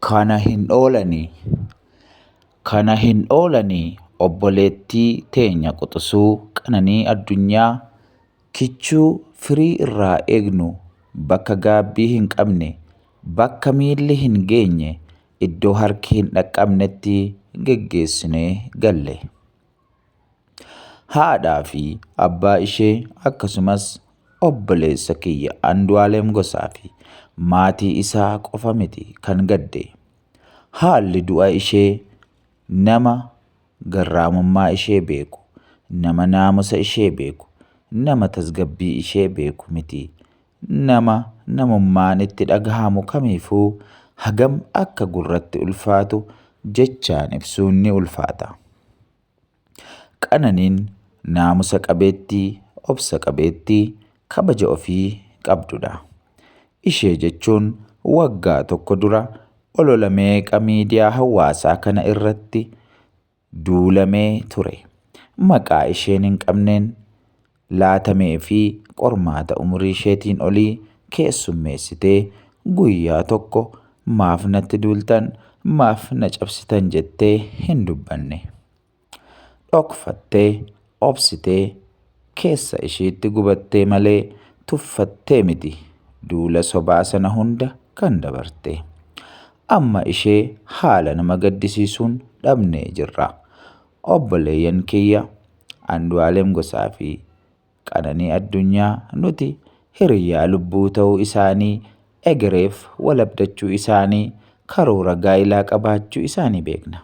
Kana hin oolani. Kana hin oolani obboleettii teenya quxusuu qananii addunyaa kichuu firii irraa eegnu bakka gaabbii hin qabne bakka miilli hin geenye iddoo harki hin dhaqqabnetti geggeessinee galle. haadhaa fi abbaa ishee akkasumas obboleessa kiyya Andu'aalem Gosaa fi maatii isaa qofa miti kan gadde. Haalli du'a ishee nama garraamummaa ishee beeku, nama naamusa ishee beeku, nama tasgabbii ishee beeku miti. Nama namummaan itti dhagahamu kamiifuu hagam akka gurratti ulfaatu jechaan ibsuun ni ulfaata. Qananiin naamusa qabeettii, obsa qabeettii, kabaja ofii qabdudha. Ishee jechuun waggaa tokko dura olola meeqa miidiyaa hawaasaa kana irratti duulamee ture. Maqaa isheen hin qabneen laatameefii qormaata umurii isheetiin olii keessummeessitee guyyaa tokko maaf natti duultan, maaf na cabsitan jettee hin dubbanne. Dhokfattee obsitee, keessa ishiitti gubattee malee tuffattee miti duula sobaa sana hunda kan dabarte. Amma ishee haala nama gaddisiisuun dhabnee jirra. Obboleeyyan kiyya Andu'aalem Gosaa fi Qananii Addunyaa nuti hiriyaa lubbuu ta'uu isaanii, egereef wal abdachuu isaanii, karoora gaa'ilaa qabaachuu isaanii beekna.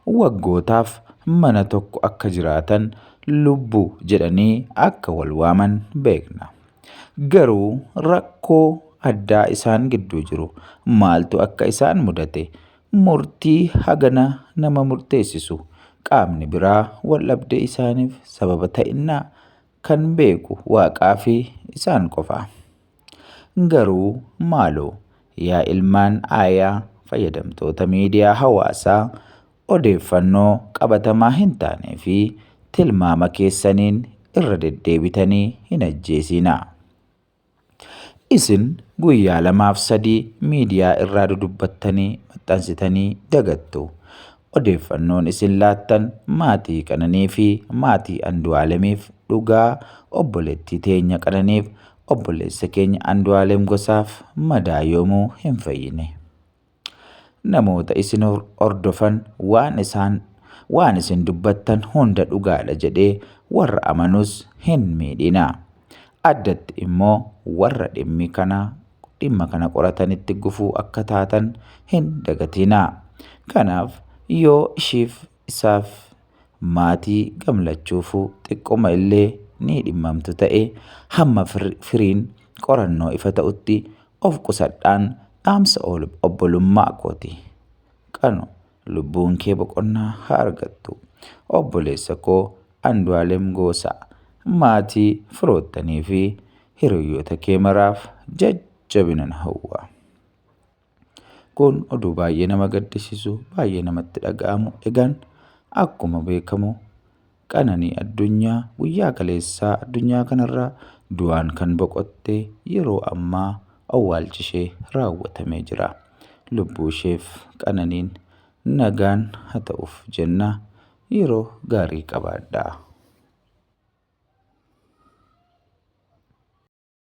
waggootaaf mana tokko akka jiraatan lubbu jedhanii akka wal waaman beekna. Garuu rakkoo addaa isaan gidduu jiru maaltu akka isaan mudate murtii hagana nama murteessisu qaamni biraa waldhabdee isaaniif sababa ta'innaa kan beeku Waaqaa fi isaan qofa. Garuu maaloo yaa ilmaan aayaa fayyadamtoota miidiyaa hawaasaa odeeffannoo qabatamaa hin taanee fi tilmaama keessaniin irra deddeebitanii hin ajjeesiinaa. Isin guyyaa lamaaf sadii miidiyaa irraa dudubbattanii maxxansitanii dagattu. Odeeffannoon isin laattan maatii Qananii fi maatii Andu'aalemiif dhugaa obboleettii teenya Qananiif obboleessa keenya Andu'aalem Gosaaf madaa yoomuu hin fayyine. Namoota isin hordofan waan isaan waan isin dubbattan hunda dhugaadha jedhee warra amanus hin miidhina. Addatti immoo warra dhimmi kana dhimma kana qoratanitti gufuu akka taatan hin dagatina. Kanaaf yoo ishiif isaaf maatii gamlachuufu xiqqoma illee ni dhimmamtu ta'e hamma firiin qorannoo ifa ta'utti of qusadhaan dhaamsa obbolummaa kooti. Qanu lubbuun kee boqonnaa haa argattu. Obboleessa koo Andualem Goosa maatii firoottanii fi hiriyyoota kee maraaf jajjabina na hawwa. Kun oduu baay'ee nama gaddisiisu, baay'ee namatti dhaga'amu. Egaan akkuma beekamu qananii addunyaa guyyaa kaleessaa addunyaa kanarraa du'aan kan boqotte yeroo ammaa awwaalchi ishee raawwatamee jira. Lubbuu isheef qananiin nagaan haa ta'uuf jenna yeroo gaarii qabaadhaa.